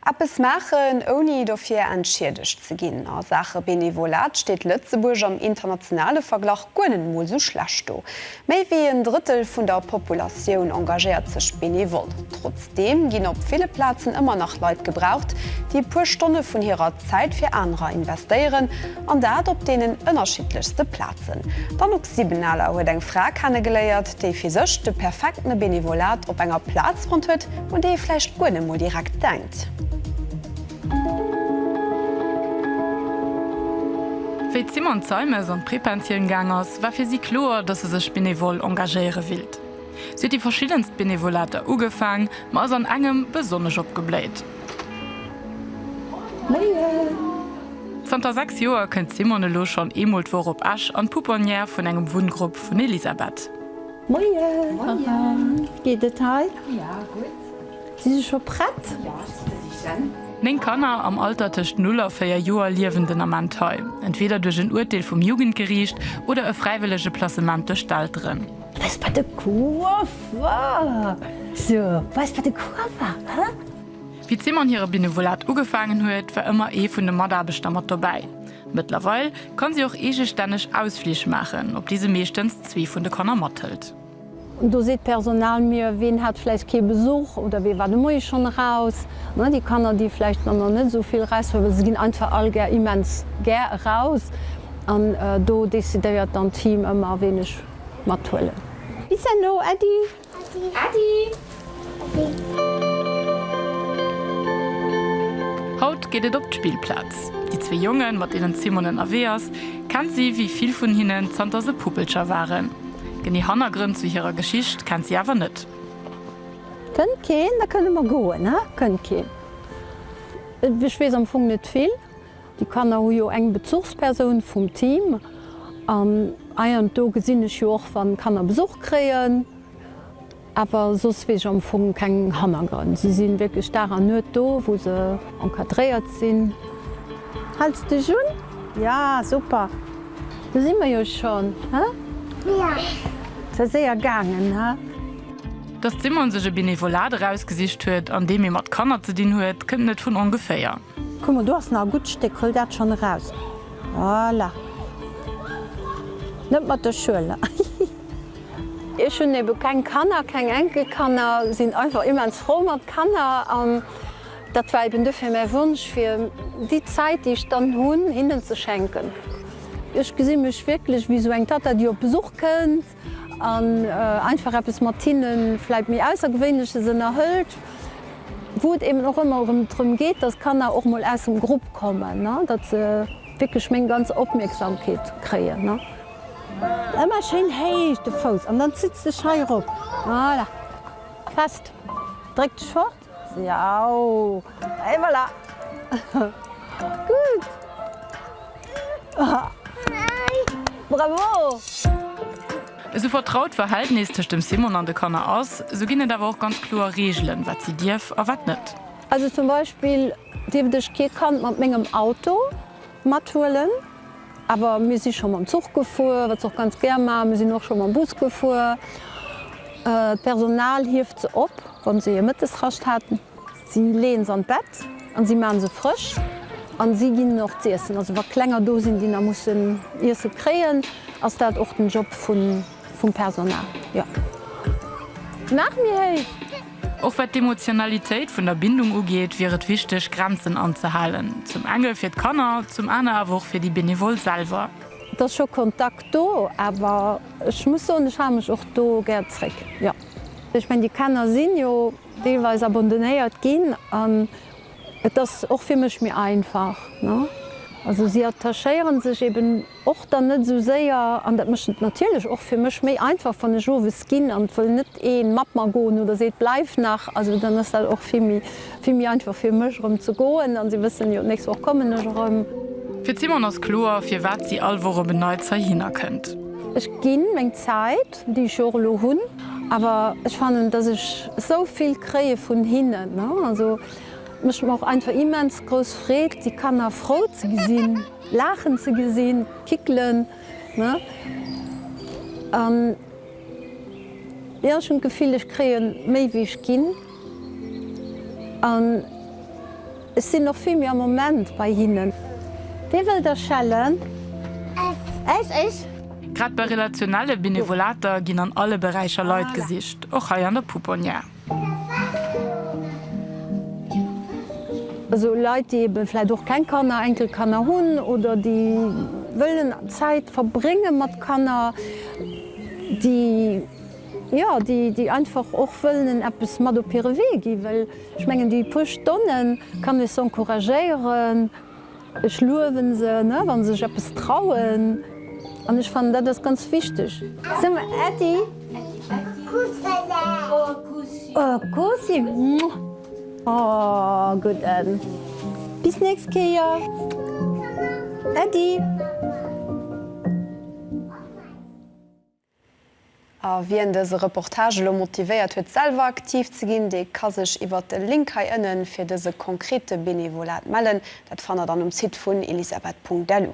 Eppes maachen, ouni dofir entschiedegt ze ginn. A Saache Benevolat steet Lëtzebuerg am internationale Verglach guer net emol esou schlecht do. Méi wéi en Drëttel vun der Populatioun engagéiert sech benevol. Trotzdeem ginn op ville Plazen ëmmer nach Leit gebraucht, déi e puer Stonne vun hirer Zäit fir anerer investéieren. An dat op deenen ënnerschiddlechste Plazen. D'Anouk Siebenaler huet eng Fra kenne geléiert, déi fir sech de perfekte Benevolat op enger Plaz fonnt huet, un déi ee vläicht guer net mol direkt denkt. Wéi d'Simone Zeimes an d'Prépensioun gaang ass, war fir si kloer, datt se sech benevol engagéiere willt. Si huet déi verschiddenst Benevolate ugefaang, ma ass an engem besonnesch opgebléit. Zanter 6 Joer kënnt d'Simone elo schonn eemol d'Woch op Esch an d'Pouponnière vun engem Wunngrupp vun Elisabeth. Néng Kanner am Alter tëscht 0 a 4 Joer liewen den Ament hei, entweeder duerch en Urteel vum Jugendgeriicht oder e fräiwëllege Placement duerch d'Elteren. Weess wat e Kuerf war? So, weess wat e Kuerf war, hä? Wéi d'Simone hire Benevolat ugefaangen huet, war ëmmer ee vun de Mataarbechter mat dobäi. Mëttlerweil kann si och eegestänneg Ausflich maachen, op déi se meeschtens zwee vun de Kanner mathëlt. Do seet d'Personal mir, ween hat vläicht kee Besuch oder wee war de Moie schonn eraus. Déi Kanner, déi vläicht manner net esou vill Rest huelen, se ginn einfach all gär, immens gär eraus. An do decidéiert dann d'Team ëmmer, ween ech mathuelen. Bis herno, Äddi! Haut geet et op d'Spillplaz. Déi zwee Jongen, mat deenen d'Simone ënnerwee ass, kennt si wéi vill vun hinnen zanter se Puppelcher waren. Genee Hannergrënn zu hirer Geschicht kennt si awer net. Kënnt keen? Da kënne mer goen, ha? Kënnt keen? Ech weess am Fong net vill. Déi Kanner hu jo eng Bezuchspersoun vum Team an hei an do gesinn ech jo och wann Kanner Besuch kréien, awer soss weess ech am Fong keng Hannergrënn. Si sinn wierklech Dag an Nuet do wou se encadréiert sinn. Hälls dech un? Ja super, do si mer jo schonn, he? Ja. Säi séier gaangen, he? Dass d'Simone sech e Benevolat erausgesicht huet, an deem ee mat Kanner ze dinn huet, kënnt net vun ongeféier. Kuck mol, do ass nach e gutt Stéck, huel dat schonn eraus. Voilà. Net mat der Schuel, hihi. Ech hunn ebe keng Kanner, keng Enkelkanner, sinn einfach immens frou mat Kanner an dat war eben dofir mäi Wonsch, fir déi Zäit, déi ech dann hunn, hinnen ze schenken. Ech gesi mech wierklech wéi esou eng Tatta, déi op Besuch kënnt An einfach eppes mat hinne vläit méi Aussergewéinleches ënnerhëlt, wou et eben och ëmmer erëm drëm geet, datt d'Kanner och mol aus dem Grupp kommen, datt se wierklech meng ganz Opmierksamkeet kréien. Ëmmer schéin héich de Fouss an dann zitt s dech hei erop. Voilà, fest, dréck dech fort. Jau! Et voilà! Gudd! Bravo! Esou vertraut d'Verhältnis tëscht dem Simon an de Kanner ass, esou ginn et awer och ganz kloer Reegelen, wat si dierf a wat net. Also zum Beispill dierft ech kee Kand mat mengem Auto mathuelen, awer mir si scho mam Zuch gefuer, wat se och ganz gär maachen. Mir sinn och scho mam Bus gefuer. D'Personal hieft se op. Wann se hir Mëttesrascht haten. Si leeën se an d'Bett an si maachen se frësch an si ginn hinnen och z'iessen. Also wa Klenger do sinn, déi nach mussen Iesse kréien, ass dat och den Job vum Personal, jo. Nach méi héich! Och wat d'Emotionalitéit vun der Bindung ugeet, wier et wichteg, Grenzen anzehalen. Zum enge fir d'Kanner, zum aner awer och fir déi Benevole selwer. Et ass scho Kontakt do, awer ech muss soen, ech hale mech och do gär zréck, jo. Ech mengen déi Kanner sinn jo deelweis abandonnéiert ginn an et ass och fir mech méi einfach ne. Also si attachéieren sech eben och dann net esou séier an dat mécht et natierlech och fir mech méi einfach wann ech owes ginn an et wëll net een mat mer goen oder seet bleiw nach, also dann ass dat och vill méi vill méi einfach fir mech erëm ze goen an si wëssen jo d'nächst Woch kommen ech erëm. Fir d'Simone ass kloer firwat si all Woch op en Neits heihinner kënnt. Ech ginn meng Zäit. Leit, déi ech jo och elo hunn, awer ech fannen, dass ech esou vill kréie vun hinnen. Also et mécht mer och einfach immens grouss Freed, déi Kanner frou ze gesinn, laachen ze gesinn, kickelen. An jo, ech hunn d'Gefill, ech kréie méi, wéi ech ginn. An ech sinn och vill méi am Moment bei hinnen. Wee wëll da schellen? Ech! Ech! Grad bei relationelle Benevolater ginn an alle Beräicher Leit gesicht, och hei an der Pouponnière. Esou Leit, déi ebe vläit och keng Kanner, Enkelkanner hunn oder déi wëllen Zäit verbrénge mat Kanner, déi Jo, déi einfach och wëllen eppes mat op hire Wee ginn, well ech mengen, déi puer Stonne kann ee se encouragéieren. Ech luewe se, wa se sech eppes trauen an ech fannen, dat ass ganz wichteg. Sou mer Äddi, Kussi, muah, oh gutt Änn, bis nächst Kéier Äddi. A wien dëse Reportage elo motivéiert huet selwer aktiv ze ginn, dee ka sech iwwert de Link hei ënnen fir dëse konkrete Benevolat mellen. Dat fannt der dann um Site vun elisabeth.lu.